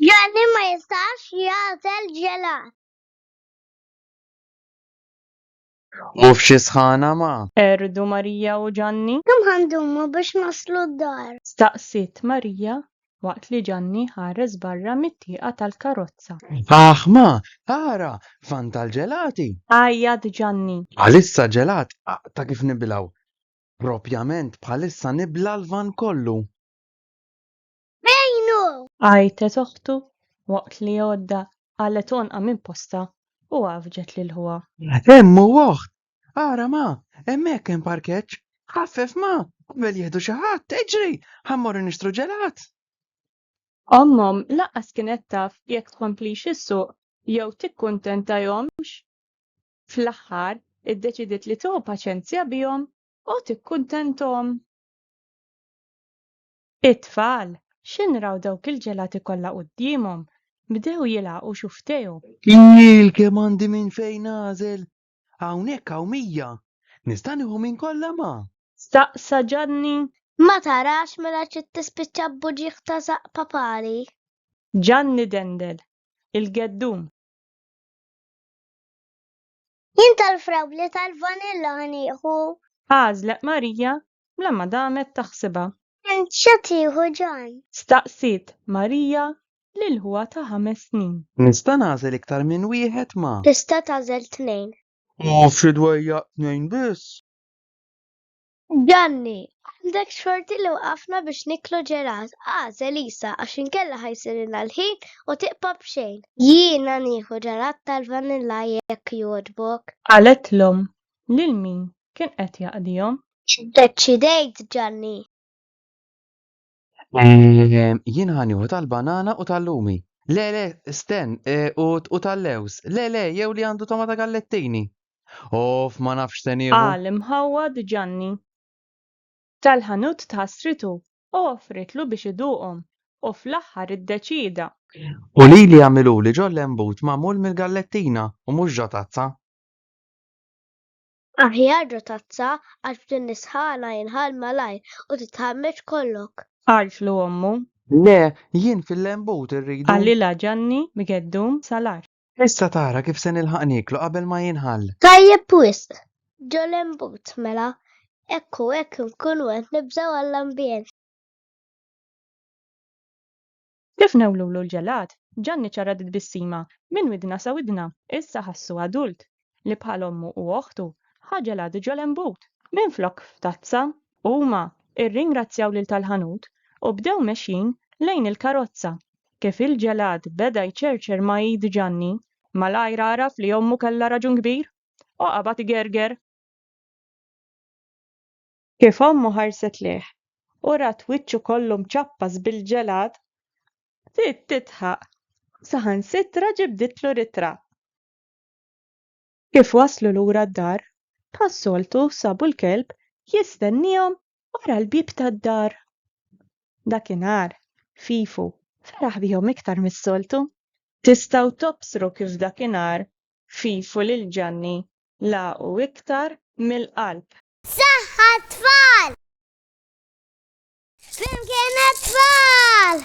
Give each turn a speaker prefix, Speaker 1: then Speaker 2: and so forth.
Speaker 1: Gianni ma jistax jagħżel ġelat.
Speaker 2: U f'xi sħana ma. Qerdu Marija
Speaker 3: u Ġanni. Kemm ħa ndumu
Speaker 1: biex naslu d-dar? Staqsiet Marija
Speaker 3: waqt li Ġanni ħares barra mit-tieqa tal-karozza. Aħ ma,
Speaker 2: ara, fan tal-ġelati! Għajjat
Speaker 3: Ġanni. Bħalissa ġelat
Speaker 2: ta' kif nibilgħu. Propjament bħalissa nibla' l-van kollu. Bejnu!
Speaker 1: Għajtet oħtu
Speaker 3: waqt li għodda qalgħet għonqha minn postha u għaffġet lil ħuha. Hemm hu oħt!
Speaker 2: Ara ma! Hemmhekk hemm parkeġġ! Ħaffef ma! Qabel jieħdu xi ħadd, iġri! Ħa mmorru nixtru ġelat!
Speaker 3: Ommhom lanqas kienet taf jekk tkomplix issuq jew tikkuntentahomx. Fl-aħħar, iddeċidiet li tieħu paċenzja bihom u tikkuntenthom. It-tfal, x'in raw dawk il-ġelati kollha quddiemhom, bdew jilgħaqu xufftejhom. Jil kemm
Speaker 2: għandi minn fejn nagħżel! Hawnhekk hawn mija! Nista' nieħu minn kollha ma? Staqsa
Speaker 3: Ġanni. Ma tarax
Speaker 1: mela trid tispiċċa b'buġieħ ta' żaqq papali? Ġanni
Speaker 3: dendel il-geddum.
Speaker 1: Jien tal-frawli tal-vanilla ħanieħu. Għażlet
Speaker 3: Marija bla ma damet taħsibha. Int xa
Speaker 1: tieħu Ġan? Staqsiet
Speaker 3: Marija lil ħuha ta' ħames snin. Nista' nagħżel
Speaker 2: iktar minn wieħed ma. Tista' tagħżel
Speaker 1: tnejn. U f'xi
Speaker 2: dwejjaq tnejn biss? Gianni,
Speaker 1: Għandek xorti li waqafna biex niklu ġelat, għaż Elisa, għax inkella ħa jsirilna l-ħin u tiqpa' b'xejn. Jiena nieħu ġelat tal-vanilla jekk jogħġbok. Qalet l-omm,
Speaker 3: lil min kien qed jaqdihom? Iddeċidejt,
Speaker 1: Gianni.
Speaker 2: Ehm, jien ħanieħu tal-banana u tal-lumi. Le, le, sten, e, u, u tal-lews. Le, le, jew li għandu tomata gallettini. Of, ma nafx se nieħu. Qal imħawwad
Speaker 3: Ġanni. Tal-ħanut tħassritu u offritlu biex iduqhom u fl-aħħar iddeċieda. U lili
Speaker 2: għamiluli ġol-lembut magħmul mill-gallettina u mhux ġo tazza.
Speaker 1: Aħjar ġo tazza għax b'din is-sħana jinħall malajr u titħammeġ kollok. Qaltlu ommu.
Speaker 3: Le,
Speaker 2: jien fil-lembut irridu. Qalilha Ġanni
Speaker 3: b'geddum salar. Issa tara kif
Speaker 2: se nilħaq nieklu qabel ma jinħall. Tajjeb wisq!
Speaker 1: Ġo lembut mela, hekk u hekk inkunu qed nibżgħu għall-ambjent.
Speaker 3: Kif newlulu l-ġelat, Ġanni ċarrat it-tbissima minn widna sa widna. Issa ħassu adult, li bħal ommu u oħtu, ħa ġelat ġol-imbut. Minflok f'tazza, huma irringrazzjaw lil tal-ħanut u bdew mexjin lejn il-karozza. Kif il-ġelat beda jċerċer ma' id Ġanni, malajr għaraf li ommu kellha raġun kbir u qabad igerger. Kif ommu ħarset lejh u rat wiċċu kollu mċappas bil-ġelad, bdiet tidħaq, saħansitra ġibditlu ritratt. Kif waslu lura d-dar, bħas-soltu sabu l-kelb jistenniehom wara l-bieb tad-dar. Dakinhar, Fifu feraħ bihom iktar mis-soltu. Tistgħu tobsru kif dakinhar Fifu lil Ġanni lagħqu iktar mill-qalb. Saħħa
Speaker 1: tfal! Flimkien tfal!